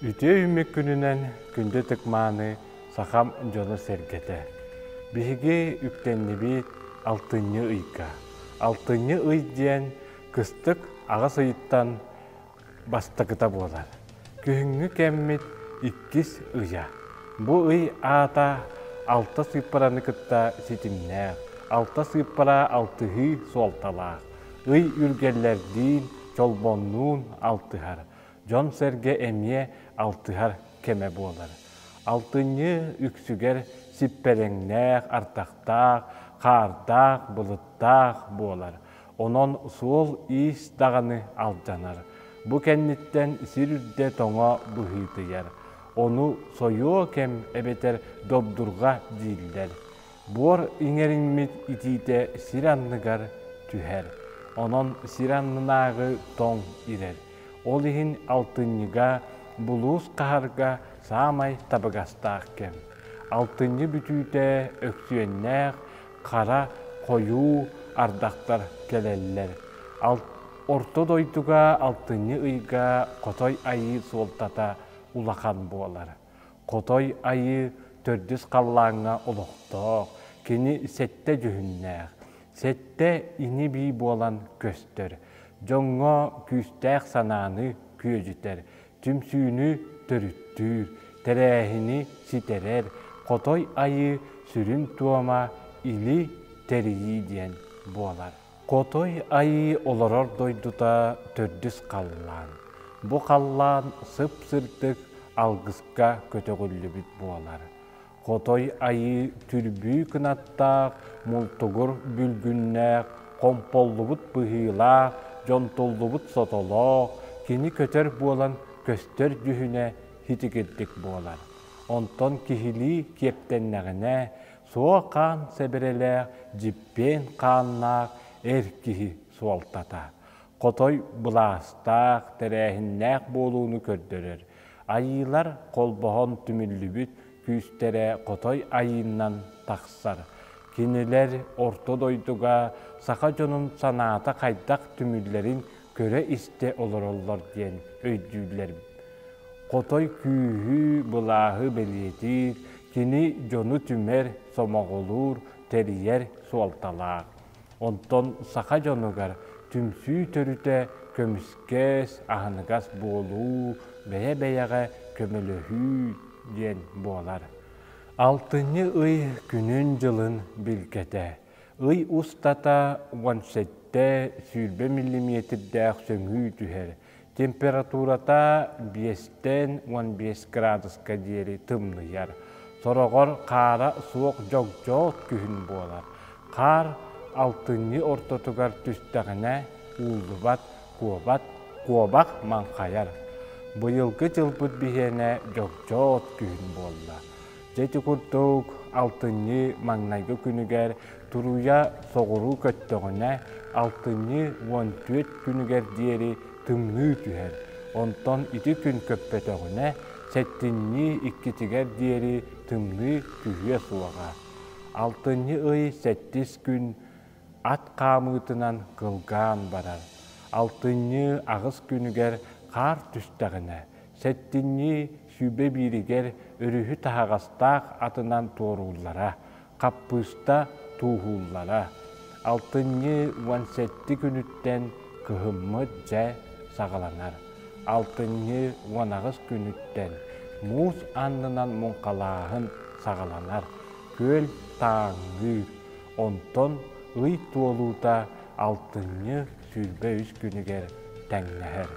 Үтүө үүммүт күнүнэн күндү тыкмааны сахам дьоно-сэргэтэ. Биһиги үктэннибит алтынньы ыйга. Алтынньы ый диэн кыстык аҕыс ыйыттан бастакыта буолар. Күһүҥҥү кэммит иккис ыйа. Бу ый аата алта сыыппараны кытта ситимнээх, алта сыыппара алтыһыы суолталаах. Ый үргэллэрдиин, чолбоннуун алтыһар. Дьон-сэргэ эмиэ алтыһар кэмэ буолар. Алтынньы үксүгэр сиппэрэҥнээх ардахтаах, хаардаах, былыттаах буолар. Онон суол-иис даҕаны алдьанар. Бу кэнниттэн сир үрдэ тоҥо быһыытыйар. Ону сойуо кэм эбэтэр добдурга дииллэр. Буор иҥэриҥмит итиитэ сир анныгар түһэр. Онон сир аннынааҕы тоҥ ирэр. Ол иһин алтынньыга, булуус хаһарга саамай табыгастаах кэм. Алтынньы бүтүүтэ Өксүөннээх хара, хойуу ардахтар кэлэллэр. Орто дойдуга алтынньы ыйга Хотой Айыы суолтата улахан буолар. Хотой Айыы төрдүс халлааҥҥа олохтоох, кини сэттэ дьүһүннээх. Сэттэ ини-бии буолан көстөр. Дьоҥҥо күүстээх санааны күөдьүтэр, түмсүүнү төрүттүүр, тэрээһини ситэрэр, Хотой Айыы сүрүн туома Или тэрийии диэн буолар. Хотой Айыы олорор дойдута төрдүс халлаан. Бу халлаан сып-сырдык алгыска көтөҕүллүбүт буолар. Хотой Айыы түрбүү кынаттаах, мултугур бүлгүннээх, хомполлубут быһыылаах, дьонтуллубут сотолоох, кини көтөр буолан көстөр дьүһүнэ хитигирдик буолар. Онтон киһилии киэптэннэҕинэ, суо хаан сэбирэлээх, дьиппиэн хааннаах эр киһи суолтата. Хотой былаастаах, тэрээһиннээх буолууну көрдөрөр, Айыылар холбоһон түмүллүбүт күүстэрэ хотой айыыннан тахсар. Кинилэр орто дойдуга саха дьонун санаата хайдах түмүллэрин көрө-истэ олороллор диэн өйдүүллэр. Хотой күүһү, былааһы бэлиэтиир, кини дьону түмэр, сомоҕолуур, тэрийэр суолталаах. Онтон саха дьонугар түмсүү төрүтэ көмүскэс, аһыныгас буолуу, бэйэ-бэйэҕэ көмөлөһүү диэн буолар. Алтынньы ый күнүн-дьылын билгэтэ. Ый устата уон сэттэ сүүрбэ миллиметрдээх сөҥүү түһэр, Температурата биэстэн уон биэс кыраадыска диэри тымныйар. Сороҕор хаара суох дьогдьоот күһүн буолар. Хаар алтынньы ортотугар түстэҕинэ ууллубат, куобат, куобах маҥхайар. Быйылгы дьылбыт биһиэнэ дьогдьоот күһүн буолла. Дьэ курдук алтынньы маҥнайгы күнүгэр туруйа соҕуруу көттөҕүнэ, алтынньы уон түөрт күнүгэр диэри тымныы түһэр. Онтон ити күн көппөтөҕүнэ, сэттинньи иккитигэр диэри тымныы түһүө суоҕа. Алтынньы ый сэттис күн ат хаамыытынан кылгаан барар. Алтынньы аҕыс күнүгэр хаар түстэҕинэ, сэттинньи сүүрбэ бииригэр өрүһү таһаҕастаах атынан туорууллара, хаппыыста тууһууллара. Алтынньы уон сэттэ күнүттэн кыһыммыт дьэ саҕаланар. Алтынньы уон аҕыс күнүттэн муус аннынан муҥхалааһын саҕаланар, күөл тааҥныыр. Онтон ый туолуута алтынньы сүүрбэ үс күнүгэр тэҥнэһэр.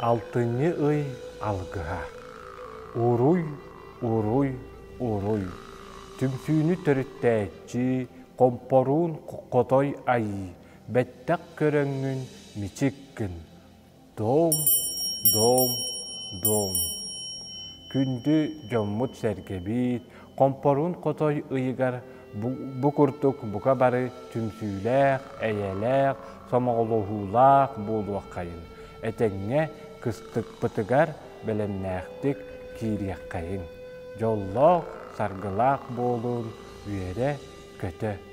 Алтынньы ый алгыһа Уруй, уруй, уруй Түмсүүнү төрүттээччи Хомпоруун Хотой Айыы Бэттэх көрөҥҥүн мичик гын Доум, доум, доум. Күндү дьоммут-сэргэбит, хомпоруун хотой ыйыгар бу курдук бука бары түмсүүлээх, эйэлээх, сомоҕолоһуулаах буолуоххайын, этэҥҥэ кыстыкпытыгар бэлэмнээхтик киириэххэйин. Дьоллоох, саргылаах буолуун, үөрэ-көтө